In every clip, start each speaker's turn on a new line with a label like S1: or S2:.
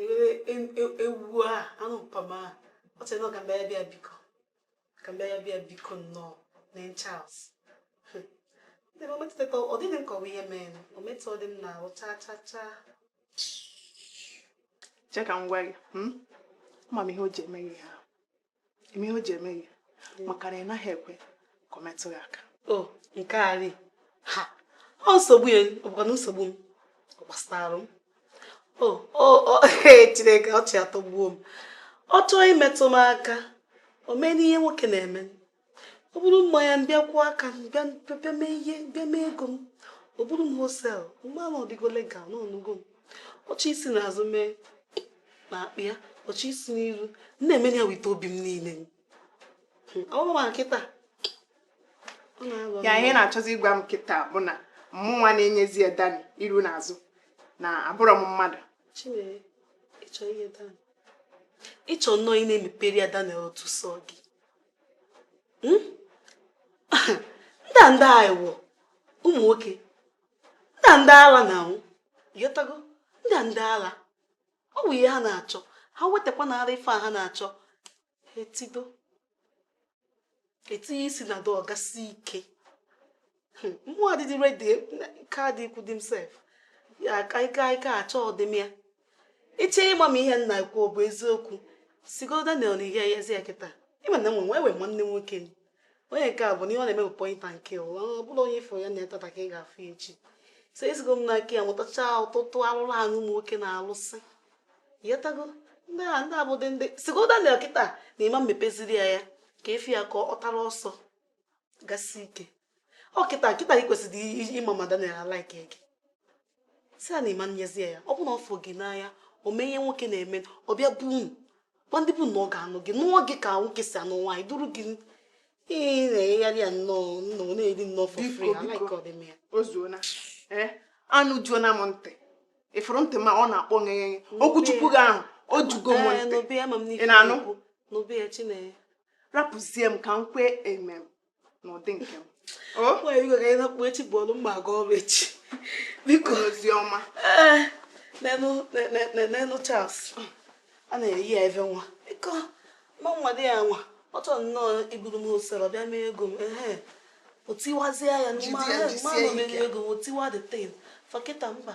S1: eghere e- e- ewu a anụ mpama a ọ sị na ọ ka mbe ya bịa biko ka mbe ya bịa biko nnọọ nenụ Charles ndị o metụta ọ dịghị m ka ọ wụ ihe mee o metụ ọ dị m n'ahụ chaa chaa
S2: chaa che ka m gwa gị hmm? ama m ihe o ji eme gị ha ị ma ihe o ji eme gị maka na ị naghị ekwe ka o metụ gị aka o nke a
S1: ri ha ọ nsogbu ya ọ bụkwanụ nsogbu m ọ gbasara m o o o chineke ọchị atọgbuo m ọ chọọ imetụ m aka o meenụ ihe nwoke na-eme o buru mmanya bịa kụọ aka m bịa bịa mee ihe bịa mee ego m o buru m wholesale mgbe ahụ ọ dịgo legal ị nụgo m ọ chọ isi n'azụ mee na akpa ya ọ chọ isi n'iru m na-emere ya with obi m niile ọ bụrụ ma kịta ọ
S2: na-aghọ m. ya ihe ị na-achọzi ịgwa m kịta bụ na mụnwa na-enyezi ya Dan iru na azụ na abụrọ m mmadụ Chineke,
S1: ị chọ ihe Dan ị chọ nnọọ ị na-emepere ya Dan otu sọ gị hmm? ndị a ndị a wụ ụmụ nwoke ndị a ndị ala na-awụ ị ghọtago ndị a ndị ala ọ bụ ihe ha na-achọ ha wetakwa na ara ife a ha na-achọ ha etido ha eti isi na dọọ gasị ike mmụọ adịdị ready nke adị ikwu themself ya ka ike ike achọ ọdịmma ya iche ịgba m ihe m na-ekwu bụ eziokwu sigo Daniel na ị nyezi ya kịta ị ma na m nwe nwe nwanne nwoke m onye nke a bụ na ihe ọ na-eme bụ point and kill nwa ọ bụla onye ị fụ ya na ya taata ka ị ga-afụ echi so esigo m n'aka ya mụtacha ọtụtụ arụrụ ala ụmụ nwoke na-alụsị ị ghọtago ndị a ndị abụdị ndị sigo Daniel kịta na ị ma mepeziri ya ya ka ị fụ ya ka ọ tara ọsọ gasị ike ọ kịta kịta ị kwesịrị ịma ma Daniel like gị sị ya na ị ma nyezi ya ọ bụ na ọ fụ gị n'anya o mee ihe nwoke na-eme ọ bịa be unu gwa ndị be unu na ọ ga-anụ gị nụọ gị ka nwoke si anụ nwaanyị duru gị ị na-enyegharị ya nnọọ nnọọ na-eri nnọọ for free alaike ọdịm ya o
S2: zuona ee anụ juona m ntị ị fụrụ ntị m a ọ na-akpọ ngeghe okwu Chukwu gị ahụ o jugo m ntị ị na-anụ
S1: n'obe
S2: ya chinenye
S1: rapụzie
S2: m ka m kwee amen n'ụdị nke m
S1: nakpuo echi bụ ọrụ m ga-aga ọrụ echi biko Oziọma nenụ Charles a na-eyi ya ebe nwa biko ma nwa dị ya nwa ọ chọrọ nnọọ iburu m wholesale bịa mee ego m ehe o tiwazie ya n'ime ahụ m ma na o mere ego m o tiwa the thing fa kịta mba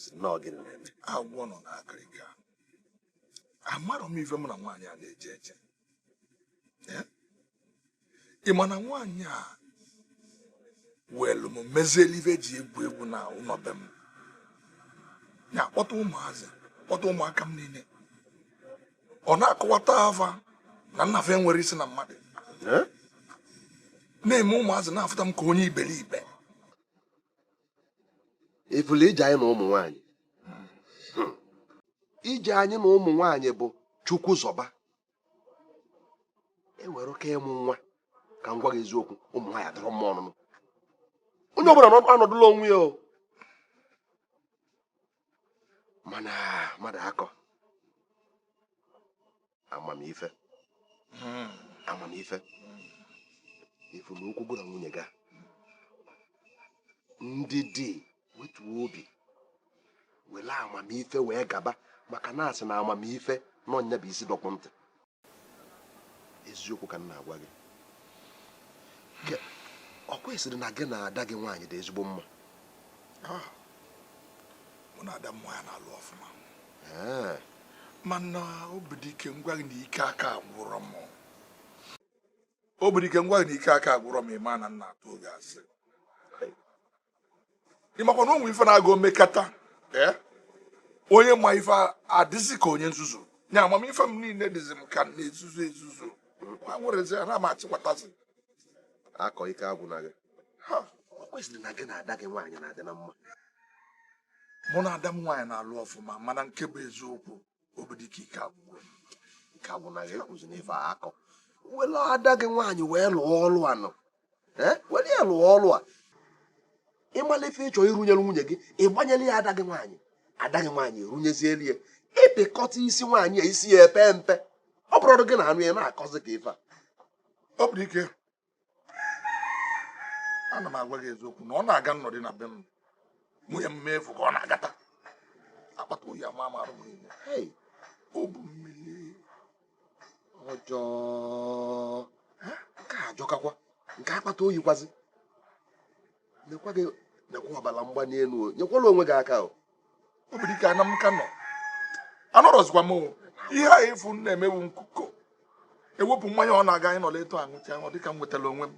S3: si nnọọ gịnị na-eme agwọ nọ na akịrịka amarọ m ife mụ na nwaanyị a na-eje eje ị ma na nwaanyị a welu m mezielu ife e ji egwu egwu na ụnọ be m ya akpọta ụmụazị kpọta ụmụaka m niile ọ na-akọwata fa na nna fa enwerọ isi na mmadụ na-eme ụmụazị na-afụta m ka onye iberibe
S4: ị fụla ije anyị na ụmụ nwanyị hmm. ije anyị na ụmụ nwanyị bụ chukwu zọba eweruka ịmụ nwa ka m gwa gị eziokwu ụmụ nwaanyị adịrọ mma ọnụnụ onye ọbụla anọdụla onwe ya o mana mmadụ akọ amamife hmm. amamife ị fụ na okwu gị na nwunye gị ndidi wetuo obi were amamife wee gaba maka na a sị na amamife na ọ nya bụ isi dọkpụ ntị eziokwu ka m na-agwa gị ọkwa ị sịrị na gị na ada gị nwaanyị dị ezigbo mma ah,
S3: mụ na ada m nwaanyị na-alụ ọfụma eh. mana obidike m gwa gị na ike aka agwụrọ m obidike m gwa gị na ike aka agwụrọ m ị ma na m na-atụrụ gị asị ị makwa na o nwe ife na-aga o mekata eh? onye ma ife adịzi ka onye nzuzu nya amamife m niile dịzi m ka m na-ezuzu ezuzu nwerezi ana m
S4: achịkwatazi akọ ike agwụna gị ọkwa ị sịrị na gị na ada gị nwaanyị na-adị na mma
S3: mụ na ada m nwaanyị na-alụ ọfụma mana nke bụ eziokwu obidike ike agwụgo m ike
S4: agwụna gị ekwuzina ife a akọ were ada gị nwaanyị wee lụọ ọlụ a nọ were ya lụọ ọlụ a ị mala ife ị chọ irunyere nwunye gị ị gbanyere ya ada gị nwaanyị ada gị nwaanyị erunyezielu ya ị pịkọta isi nwaanyị a isi ya epe mpe ọ bụrọ gị na-anụ ya na-akọzi ka ife a
S3: obidike ana m agwa gị eziokwu na ọ na-aga m nọdị na be m nwunye m m fụ ka ọ na-agata akpata oyi amaa m arụ m niile ọ bụ
S4: mmiri ọjọọ nke a ajọkakwa nke akpata oyi kwazi lekwa gị lekwa ọbara mgbali elu nyekwala onwe gị
S3: aka
S4: obidike
S3: ana m ka nọ anọrọzikwa m ihe afụ m na-eme wụ nkuko ewepụ mmanya ọ na-aga anyị nọla etu a aṅụcha ọ dịka m nwetara onwe m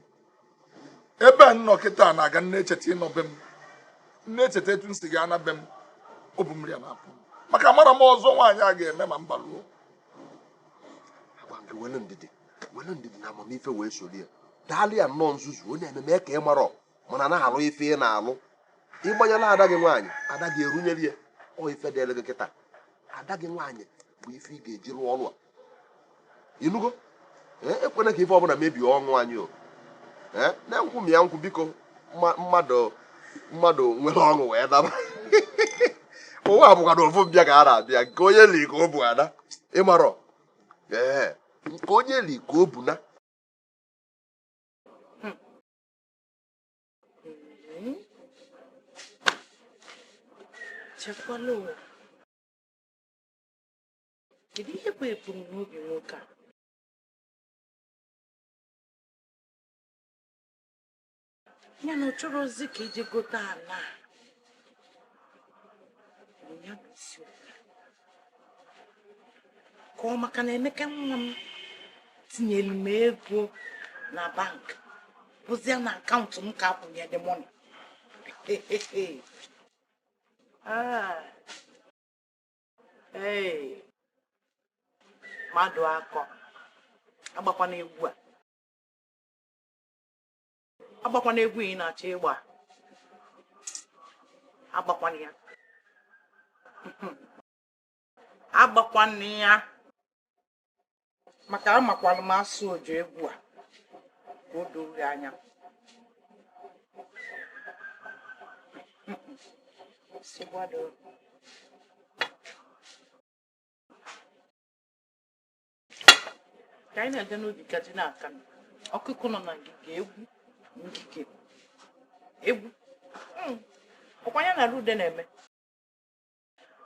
S3: ebe a m nọ kịta na-aga m na-echeta ịnọ be m m na-echeta etu m si ga-ana be m ọ bụ mmiri a na-apụ maka amarọ m ọzọ nwaanyị a ga-eme ma m baruo
S4: were ndidi na amamife wee soro ya daalụ ya nnọọ nzuzu onye ememe ka ị marọ mana na-alụ ife ị na-alụ ịgbanyela ada gị nwaanyị ada gị erunyere ya ọ ife dịrị gị kịta ada gị nwaanyị bụ ife ị ga-eji rụọ ọrụ a ịnụgo ekwena ka ife ọbụla mebie ọṅụ anyị o na-enkwụ m ya nkwụ biko mmadụ mmadụ nwere ọṅụ wee daba ụwa bụkwa na ofu mbịa ka a na-abịa nke onye li ka o bu ana ị marọ ee nke onye li ka o bu ana
S1: echekwala ụwa kedu ihe bụ ebumnobi nwoke a ya na ọ chọrọ ozi ka e ji gote ala ya bụ isiokwu ka ọ maka na emeka nwa m tinyere m ego na bank bụzie na akaụntụ m ka a kwụnye the money ah. mmadụakọ agbakwana egwu a agbakwana egwu ị na-achọ ịgba agbakwana ya agbakwana ya maka amakwala m asụ ojo egwu a ka o doo anya Seguador. ka anyị na-aga n'obi ka ji n'aka ọkụkụ nọ na ngige egwu ngige egwu hmm. ọkwa ya na rude na-eme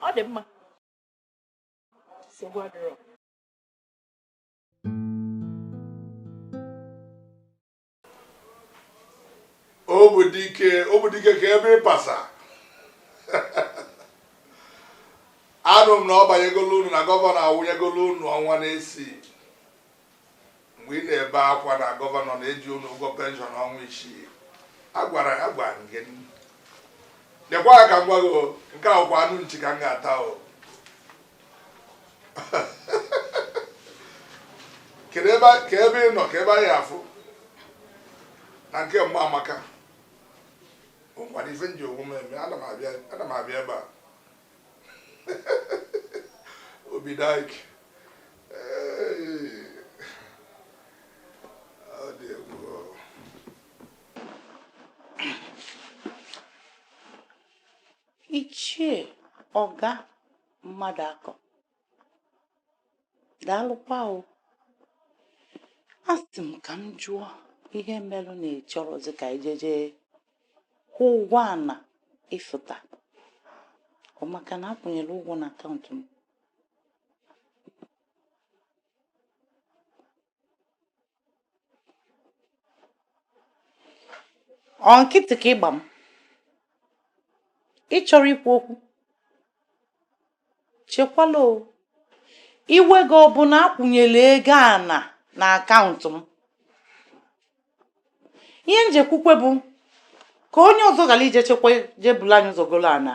S1: ọ dị mma nsogbu adịrọ
S3: obidike obidike kee ebe ị pasa anụ m na ọ banyegolo unu na gọvanọ akwụnyegolo unu ọnwa n'isii mgbe ị na-ebe akwa na gọvanọ na-eji unu ụgwọ penshọn ọnwa isii agwara ya gwa gị lekwa ka m gwa gị nke a wụkwa anụ nchi ka m ga-ata o kedu ebe kee ebe ị nọ kee ebe anyị afụ na nke mama amaka o nwere ife m ji onwe m eme ana m abịa ebe a obidike
S1: Ichie Ọga mmadụ akọ daalụkwa o asị m ka m jụọ ihe merụ na ị chọrọzi ka ijeje kwụọ ụgwọ ana ị fụta ọ maka na a kwụnyere ụgwọ na akaụntụ m Ọ nkịtị ka ị gba m? Ị chọrọ ikwu okwu? Chekwala o. Iwe gị ọ bụ na a kwụnyere ego ana n'akaụntụ m? Ihe m ji ekwukwa bụ ka onye ọzọ ghara ije chekwa jebulu anyị ụzọ golo ana.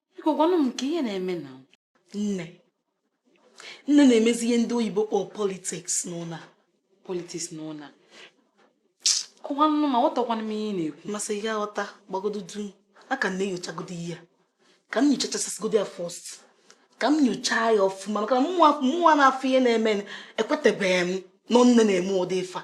S5: biko gwanụ m kee ihe na-emenụ
S1: nne nne na-emezi ihe ndị oyibo kpọọ politiks n'ụlọ a politiks
S5: n'ụlọ a kọwanụ m aghọtakwanụ m ihe ị na-ekwu m sị ị ga-aghọta
S1: gbagodo duu m ka na-enyochagodo ihe a ka m nyochachasịgodo ya fọst ka m nyochaa ya ọfụma maka na mụnwa na-afụ ihe na-eme ekwetabeghị m na ọ nne na-eme ụdị ife a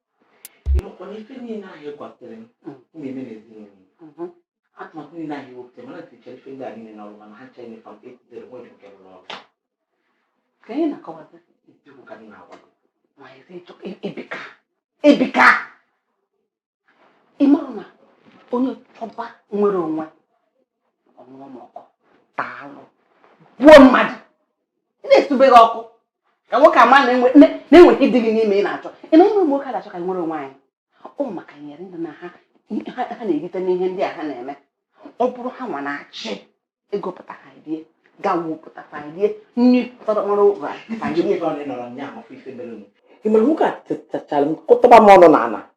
S6: ị makwa na ife niile ahụ ị gwapụtara m m ga-eme n'ezinụlọ m atụmatụ niile ahụ i wepụtara m na m tinyechara ife ndị a niile n'ọrụ mana ha ncha nyefam etidere nwere nke rụrụ ọrụ
S5: ka anyị na-akọwata eziokwu ka m na-agwa
S6: gị ma ezi
S5: ịchọ ebika ebika ị mara na onye chọba inwere onwe anwụrụ ọkụ taalụ gbuo mmadụ ị na-esubeghị ọkụ ka nwoke a ma na enweghị ihe dị gị n'ime ị na-achọ ị na ụmụ nwoke na-achọ ka anyị nwere onwe anyị ọ maka ihe ndị a na ha ha na-erite n'ihe ndị a ha na-eme ọ bụrụ ha nwa na-achị ego pụta ha rie gawo pụta ha rie nri tọrọ mara ụra ha
S6: rie ị mara nwoke a tichara m kụtaba m ọnụ n'ala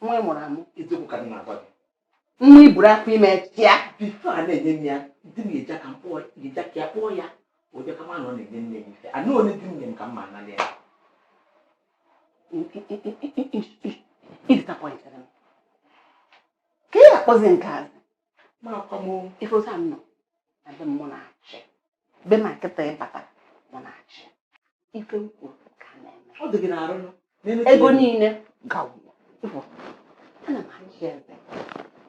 S5: nwa ị mụrụ amụ eziokwu ka m na-agwa
S6: gị nwa i
S5: buru afọ ime chịa bifo a na-enye m ya
S6: di m eji aka mkpọ eji aka ya kpọọ ya ụdị ka mana ọ na-enye nne ya ife ahụ o nye di m nye m ka m ma anala
S5: ya ị disappointara m ka ị ga-akpọzi nke azụ
S6: ife otu a m
S5: nọ na be m mụ na-achị be m kịta ị bata mụ na-achị ife m kwuru ka a na-eme
S6: ego niile
S5: gawụrụ ana m achị eze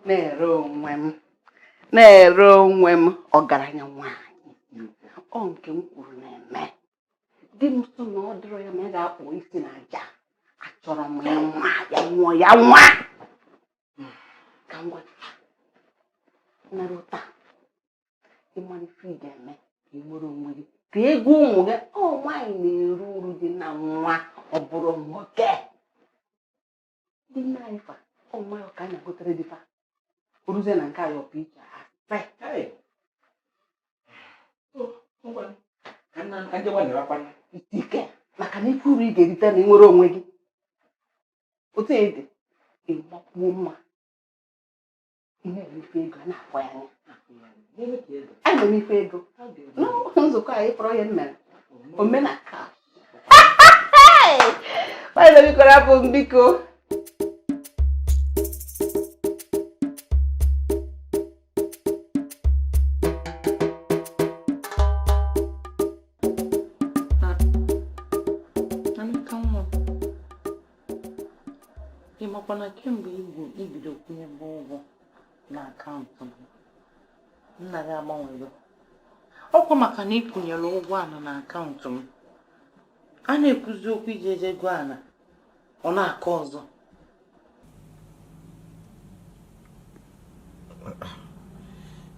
S5: nwere onwe m nwere onwe m ọgaranya nwaanyị ọ nke m kwuru na-eme di m sị na ọ dịrọ ya mma ya gaa kụọ isi na aja achọrọ m ya nwa ya nwụọ ya nwa ka m gwa nara ụta ị mara ife ị ga-eme ka ị nwere onwe gị ka ego ụmụ gị ọ nwaanyị na-eri uru dị na nwa ọ bụrọ nwoke ndị nna anyị fa ọ nwa ya ka a na-egotere di fa oruzie na nke anyị ọ pụ iche a sị ka ndị nwa
S6: na-erakwana. ite ike
S5: maka na ị fụ uru ị ga-erite na ịnwere onwe gị otu e dị ị makwuo mma ihe ife ego a na-akwa ya anya a na-eme ife ego n'ụlọ nzukọ anyị kpọrọ ya nna omenaka Maazị biko rapụ m biko
S6: ị makwa na kemgbe i bido kwụnyebe ụgwọ na akaụntụ m nna gị agbanwego ọ kwa maka na ị kwụnyere ụgwọ ana na akaụntụ m a na-ekwuzi okwu iji eje ego ana ọ na-akọ
S7: ọzọ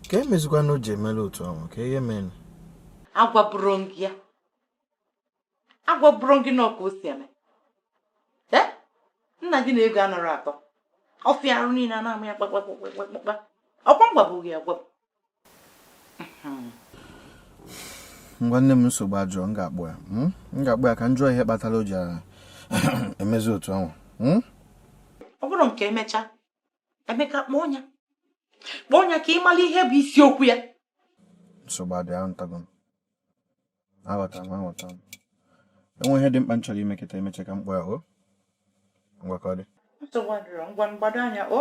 S7: kee mezikwanụ o ji emela otu ahụ kee ihe mere
S6: agwaburọ m gị ya agwaburọ m gị na ọ ka o si eme nna gị na ego anarọ atọ ọchị arụ niile a na-ama ya kpakpakpakpakpa ọ kwa m gwabu gị agwabu
S7: ngwa nne m nsogbu adịrọ m ga-akpọ ya hmm? m ga-akpọ ya ka m jụọ ihe kpatara o ji emezi otu ahụ hmm?
S6: ọ bụrụ nke emecha Emeka kpọọ ya kpọọ ya ka ị mara ihe bụ isiokwu ya
S7: nsogbu adịrọ aghọtago m aghọtara m aghọtara m e nwe ihe dị mkpa m chọrọ ime kịta emecha ka m kpọọ ya o ngwa ka ọ dị nsogbu adịrọ ngwa
S6: gbado anya o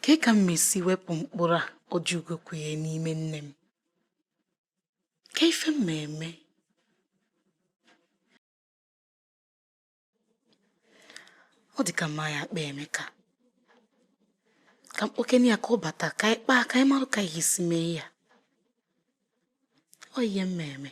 S1: Kee ka m ma-esi wepụ mkpụrụ a Ojiugo kụnye n'ime nne m? Kee ife m ma-eme? Ọ dị ka m ya-akpọ Emeka. Ka m kpọkene ya ka ọ bata ka anyị kpaa ka anyị marụ ka anyị esi mee ya. Ọ ihe m ma-eme.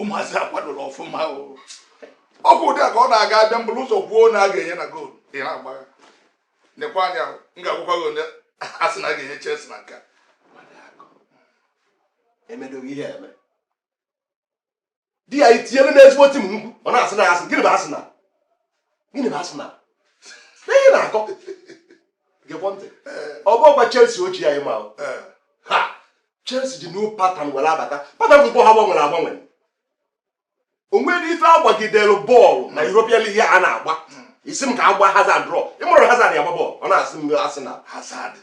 S3: ụmụazị akwadoro ọfụma ọ kwa ụdị a ka ọ na-aga abịa m buru ụzọ kwuo na a ga-enye na goolu ị na-agbagha nekwa anya m ga-agwakwa gị onye Arsenal ga-enye Chelsea na
S4: nka emedoghị ihe eme di ya itinyere n'ezigbo tim m kwu ọ na-asị na asị gịnị bụ Arsenal gịnị na asị na ihe na-akọ gekwa ntị ọ bụrọkwa Chelsea ochie anyị ma ha Chelsea ji new pattern were abata pattern football ha gbanwere agbanwe o nwere ife a gbagidere bọọlụ na Europa League a na-agba ị sị m ka a gba Hazard draw ị marọ Hazard ya-agba bọọlụ ọ na-asị m asị na Hazard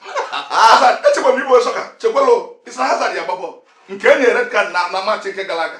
S4: Hazard
S3: echekwa m igbo sọka chekwalo ị sị na Hazard ya-agba bọọlụ nke e nyere red card na na match nke gara aga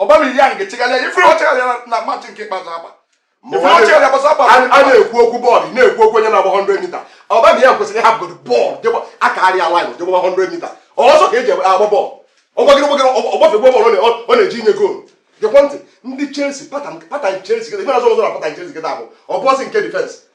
S3: Aubameyang echegharịa ị fụrụ o chegharịara na machị nke ikpeazụ agba ị fụrụ o chegharịa
S4: gbasa agba a na-ekwu okwu bọọlụ na-ekwu okwu onye na-agba 100 mita Aubameyang kwesịrị ịhapụgodo bọọlụ akarịa laịn jee gba 100 mita ọsọ ka e ji agba bọọlụ ọ gbagịrị gbagịrị ọ gbafe gba bọọlụ ọ na-eji inye goolu gekwa ntị ndị Chelsea patan Chelsea kịta ife na-azọ ọzọ na patan Chelsea kịta bụ ọ bụọsị nke difensị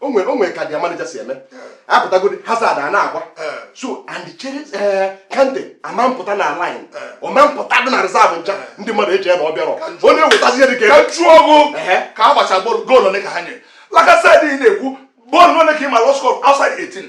S4: o nwe o nwere ka dia manager si eme apụtagodi Hazard a na-agba so ndị chere eh, Kante ama mpụta na line ọ ma mpụta dị na reserve bench a ndị mmadụ echee na ọ bịarọ ọ na-ewetazi ihe dị ka ebe chụọ
S3: ọgụ ka a gbacha goolu ole ka ha nyere Lacazette ị na-ekwu goolu ole ka ị malụ ọ score outside 18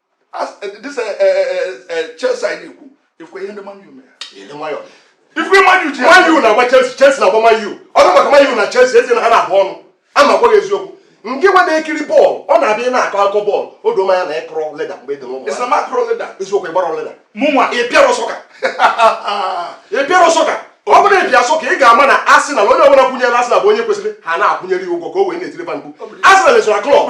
S3: this Chelsea anyị na-ekwu ị fụ ihe ndị Man U mere ife Man U ji Man U na-agba Chelsea Chelsea na-agba
S4: Man U ọ bụ maka Man U na Chelsea ezi na ha na-abụ ọnụ ana m agwa gị eziokwu ngị nwa na-ekiri bọọlụ ọ na-abịa na-akọ akụkọ bọọlụ o doo m anya na ị kụrọ leda mgbe ị dị n'ụmụ eziokwu ị gbarọ leda mụnwa ị pịarọ sọka ị pịarọ sọka ọ bụrụ ị pịa sọka ị ga-ama na Arsenal onye ọbụla kwụnyere Arsenal bụ onye kwesịrị ha na-akwụnyere ya ụgwọ ka o wee na-etiri ba mkpu Arsenal esorọ klọb